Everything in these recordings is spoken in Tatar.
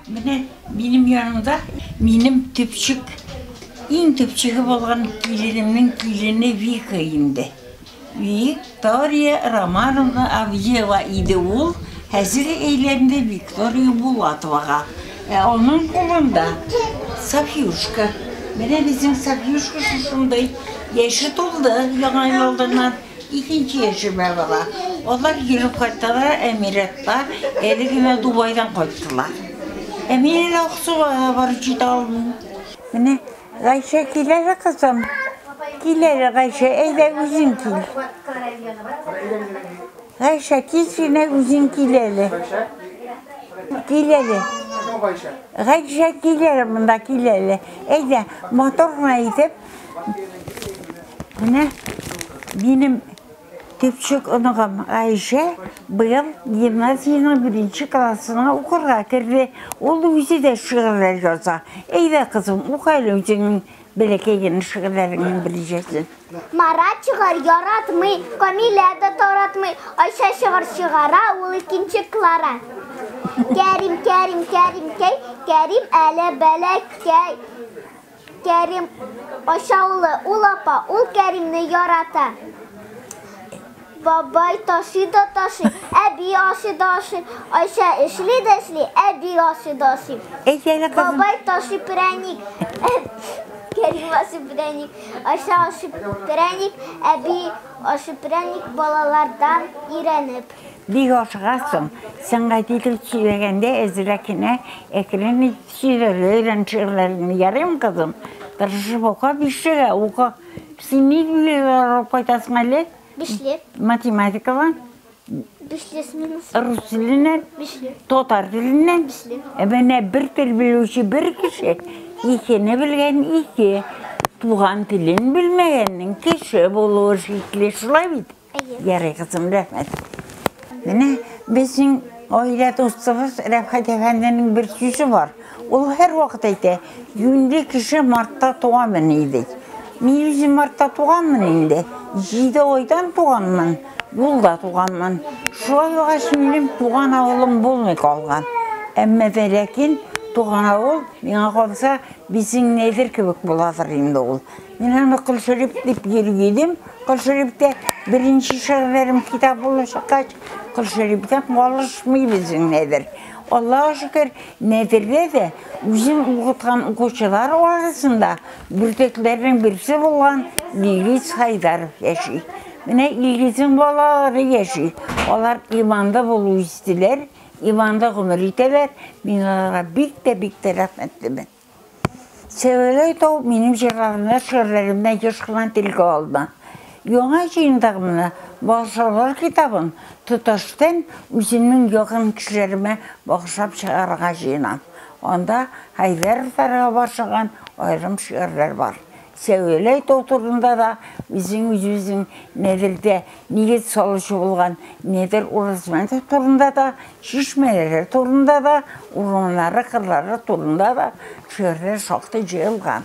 Менә минем янымда минем төпчек, иң төпчеге булган киленемнең килене Вика инде. Виктория Романовна Авдеева иде ул, хәзер әйләнде Виктория Булатовага. Ә аның кулында Софьюшка. Менә безнең Софьюшка шушындай яше тулды яңа елдан. Икенче яшемә бара. Алар йөреп кайталар Әмиратка, әле генә Дубайдан кайттылар. Ә мин әле Аксуга да барып җитә алмыйм. Менә Гайшә килә дә, кызым. Килә дә Гайшә, әйдә үзең кил. Гайшә, тиз генә үзең кил әле. Кил әле. Гайшә, кил әле монда, кил әле. Әйдә, матур гына итеп, Менә минем кечек оныгым Айшә быел гимназиянең беренче классына укырга керде. Ул үзе дә шигырьләр яза. Әйдә, кызым, ука әле үзеңнең бәләкәй генә шигырьләреңнең беренчесен. Марат чыгар яратмый, Камилә дә таратмый. Айша чыгар чыгара, ул икенче Клара. Кәрим, Кәрим, Кәримкәй, Кәрим әле бәләкәй. Кәрим ашаулы, ул апа, ул Кәримне ярата. Бабай ташый да ташый, әби ашый да ашый, Айша эшли дә эшли, әби ашый да ашый. Әйт әле, кызым. Бабай ташый прәник, Кәрим ашый прәник, Айша ашый прәник, әби ашый прәник балалардан өйрәнеп. Бик ашыгасың, сәнгать итеп сөйләгәндә әзрәк кенә әкрен ит, Сөйләргә өйрән шигырьләреңне, ярыймы, кызым? Тырышып ука, бишлегә ука. Син ни билгеләр алып кайтасың әле? Бишле. Математикадан? Бишле сменасы. Рус теленнән? Бишле. Татар теленнән? Бишле. Ә менә бер тел белүче бер кеше, икене белгән ике. Туган телен белмәгәннең кеше булуы шикле, шулай бит? Ярый, кызым, рәхмәт. Менә безнең гаилә дустыбыз Рәфхәт әфәнденең бер сүзе бар. Ул һәрвакыт әйтә, юньле кеше мартта туганмыни ди. Мин үзем мартта туганмын инде. Җиде айдан туганмын, юлда туганмын. Шулай булгач, минем туган авылым булмый калган. Әмма дә ләкин туган авыл миңа калса, безнең Нәйдер кебек буладыр инде ул. Мин аны Кол Шәриф дип йөри идем. Кол Шәрифтә беренче шигырьләрем китап булып чыккач, Кол Шәрифтән калышмыйбыз нәдер. Аллаһ шөкер, нәдердә дә үзем укыткан укучылар арасында бүртекләрнең берсе булган Илгиз Хайдаров яши. Менә Илгизның балалары яши. Алар иманлы булу истиләр, иманлы гомер итәләр. Мин аларга бик тә бик тә рәхмәтлемен. Сәвәләй тау минем җырларымны, шигырьләремне еш кына телгә алды. Яңа җыендыгымны, Багышлаулар китабын тоташтан үземнең якын кешеләремә багышлап чыгарырга җыенам. Анда Хәйдәровларга багышланган аерым шигырьләр бар. Сәүәләй тау турында да үзең үзебезнең Нәдердә нигез салучы булган Нәдер Уразмәтов турында да, чишмәләре турында да, урманнары, кырлары турында да шигырьләр шактый җыелган.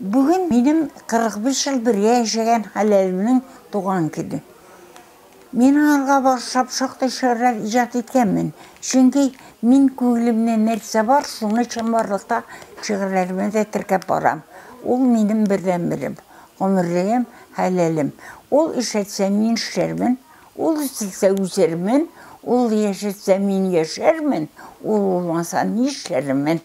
Бүген минем 45 ел бергә яшәгән хәләлемнең туган көне. Мин алга барсам шактый чорлар иҗат иткәнмен, чөнки мин күңелемнә нәрсә бар, шуны чынбарлыкта шигырьләремә дә теркәп барам. Ул, минем бердәнберем, гомерлегем, хәләлем. Ул эшләтсә, мин эшләрмен, ул үстерсә, үсермен, ул яшәтсә, мин яшәрмен, ул булмаса, нишләрмен?